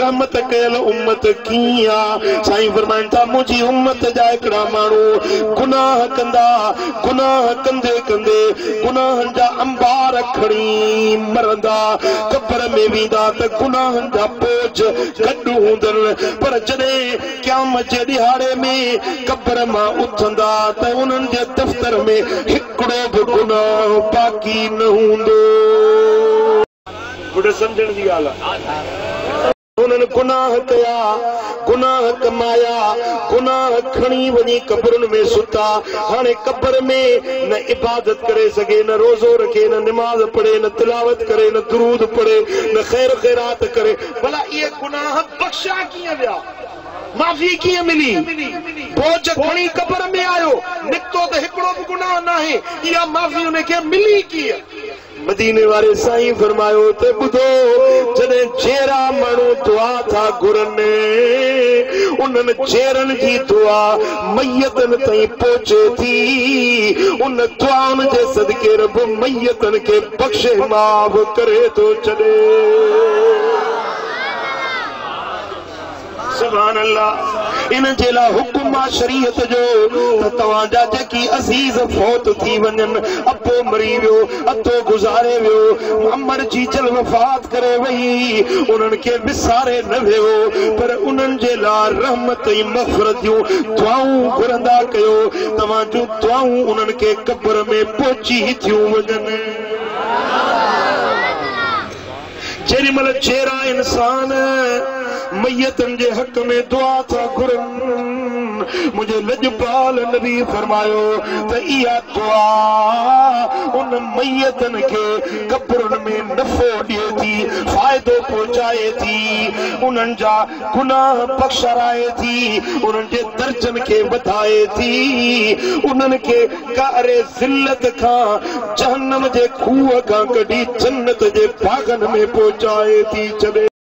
رحمت ڪيل امت ڪيئن آ؟ سائين فرمائن ٿا منهنجي امت جا هڪڙا ماڻهو گناهه ڪندا، گناهه ڪندي ڪندي گناهن جا انبار کڻي مرندا، قبر ۾ ويندا ته گناهن جا ٻوجهه گڏ هوندن پر جڏهن قيامت جي ڏهاڙي ۾ قبر مان اٿندا ته انهن جي دفتر ۾ هڪڙو به گناهه باقي نه هوندو. پڻ سمجهڻ جي ڳالهه آهي. انهن گناهه ڪيا، گناهه ڪمايا، گناهه کڻي وڃي قبرن ۾ ستا. هاڻي قبر ۾ نه عبادت ڪري سگهي، نه روزو رکي، نه نماز پڙهي، نه تلاوت ڪري، نه درود پڙهي، نه خير خيرات ڪري. ڀلا اهي گناهه بخشيا ڪيئن ويا؟ معافي ڪيئن ملي؟ بوجهه کڻي قبر ۾ آيو، نڪتو ته هڪڙو به گناهه ناهي. اها معافي انهن کي ملي ڪيئن؟ مديني واري سائين فرمايو ته ٻڌو جڏهن جيئرا ماڻهو دعا ٿا گهرن انهن جيئرن جي دعا ميتن تائين پهچي ٿي ان دعائن جي صدقي رب ميتن کي بخشي معاف ڪري ٿو ڇڏي سبحان الله ان جي لاء حڪم آ شريعت جو ته توهان جا جيڪي عزيز فوت ٿي وڃن ابو مري ويو ادو گذاري ويو امڙ جي جل وفات ڪري وئي انهن کي وساري نه ويهو پر انهن جي لاء رحمت ۽ مغفرت جون دعائون گهرندا ڪيو توهان جون دعائون انهن کي قبر ۾ پهچي ٿيون وڃن جيڏي مھل جيئرا انسان ميتن جي حق ۾ دعا ٿا گھرن، منھنجي لڄپال نبي فرمايو ته اها دعا ان ميتن کي قبرن ۾ نفعو ڏئي ٿي، فائدو پهچائي ٿي، انھن جا گناھ بخشرائي ٿي، انھن جي درجن کي وڌائي ٿي، انھن کي قعر ذلت کان جهنم جي کوهه کان ڪڍي جنت جي باغن ۾ پهچائي ٿي ڇڏي.